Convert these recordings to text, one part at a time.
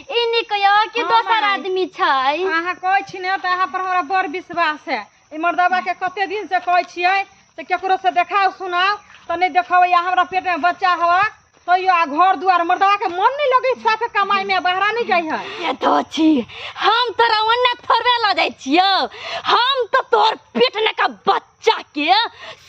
ई नी कहियो कि हँ, दोसर माय। आदमी छै अहाँ कहै छी ने तऽ अहाँ पर हमरा बड़ विश्वास है ई मर्दबा के कते दिन से कहै छियै तऽ केकरो से देखाओ सुनाओ तऽ नहि देखबै आ हमरा पेट में बच्चा हवा तैयो आ घर दुआर मर्दबा के मन नहीं लगे साफे कमाई में बहरा नहीं जाइ है ये तो छी हम तोरा ओन्ने थोड़े लऽ जाइ छियौ हम तऽ तोहर पेट ने का बच्चा के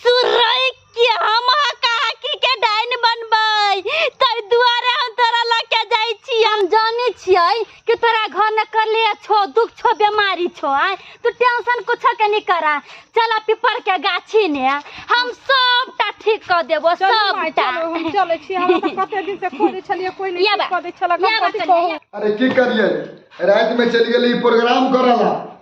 सुरई कि हम अहाँ काकी के डाइन बनबै ताहि दुआरे हम तोरा लऽ के जाइ छी हम जानै छियै कि तोरा घर में कले छो दुख छो बीमारी छो आय तू टेंशन कुछ के नहीं करा चला पीपर के गाछी ने हम सबटा ठीक कर देबो चलू माय, सबटा चलू, हम चलै छी हमरा तऽ कते दिन से खोजै छलियै कोई नहि या ठीक बा, कऽ दै छलक या हम बा, कथी चलियै, कहू या। अरे की करिए रात में चल गए प्रोग्राम करला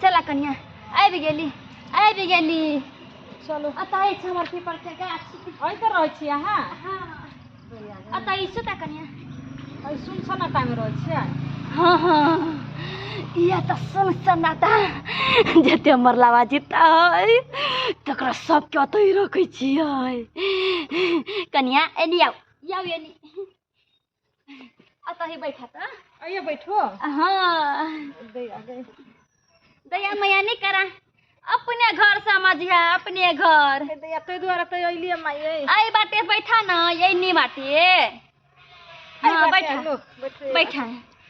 चला कनिया आबि गेली आबि गेली चलो अतः छै हमर पीपर के गाछी अइ तऽ रहै छी अहाँ हाँ अतः ई सुता कनिया अइ सुन सन्नाटामे रहै छियै हाँ हाँ यह तऽ सुन सन्नाटा जते हमर लावा जीता है तकरा सबके ओतहि रखै छियै कनिया एनी आउ आउ एनी अतही बैठा त आइए बैठो हाँ दे आ गए दया मैया नहीं करा अपने घर समझिया अपने घर हे दैया तै दुआरे तै अइलिए माइए आई बाटे बैठा ना यही नहीं बाटे हाँ बैठा बैठा बैठा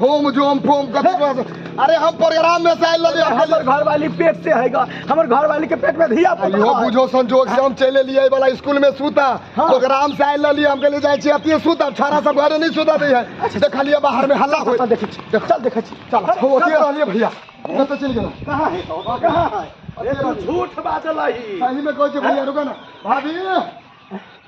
होम जोम फोम कथी कह सक- अरे हम प्रोग्राम में से आइल रहली हमर अकेले। घर वाली पेट से है गा हमर घर वाली के पेट में धिया पुता इहो है। बुझो संजोग से हम चले लिए वाला स्कूल में सूता हाँ। प्रोग्राम से आइल रहली हम कहले जाय छी अतिए सूता छाड़ा सब घरे नहीं सूता दै है देखलिए बाहर में हल्ला होय चल देखै छी चल देखै छी चल हो ओतिए रहलिए भैया न तो चल गेला कहाँ है तो? कहाँ है अरे तू झूठ बाजल है सही में कहै छी भैया रुका ना भाभी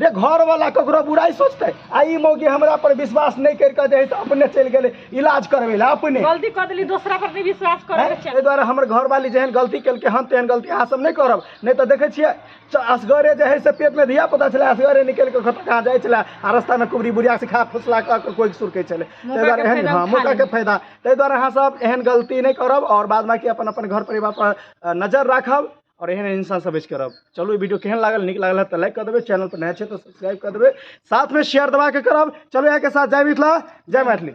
रे घर वाला ककरो बुराई सोचते आ ई मौगी हमरा पर विश्वास नहीं कर के दे तो अपने चल गेले इलाज करवे ला अपने गलती कर देली दूसरा पर नहीं विश्वास करे हैं? के एहि चाही दुआरे हमर घर वाली जेहन गलती केलकै हम तेहन गलती अहाँ सब नहि करब नहि तऽ देखै छियै च- असगरे जे है से पेटमे धिया पुता छलै असगरे निकलि कऽ कतऽ कहाँ जाइ छलै आ रस्तामे कुबरी बुढ़िया से खा फुसला कऽ कऽ कोइ सुरकै छलै ताहि दुआरे के एहन फायदा हँ उठा मौकाके लेब। फायदा ताहि दुआरे अहाँ सब एहन गलती नहि करब आओर बाद बाकी अपन अपन घर परिवार पर अ, नजर राखब और एहन एहन सब बेच करब चलू वीडियो केहन लागल नीक लागल तऽ लाइक कर देबै चैनल पर नया छै तऽ सब्सक्राइब कर देबै साथ में शेयर दबा के करब चलू यहाँ के साथ जय मिथिला जय मैथिली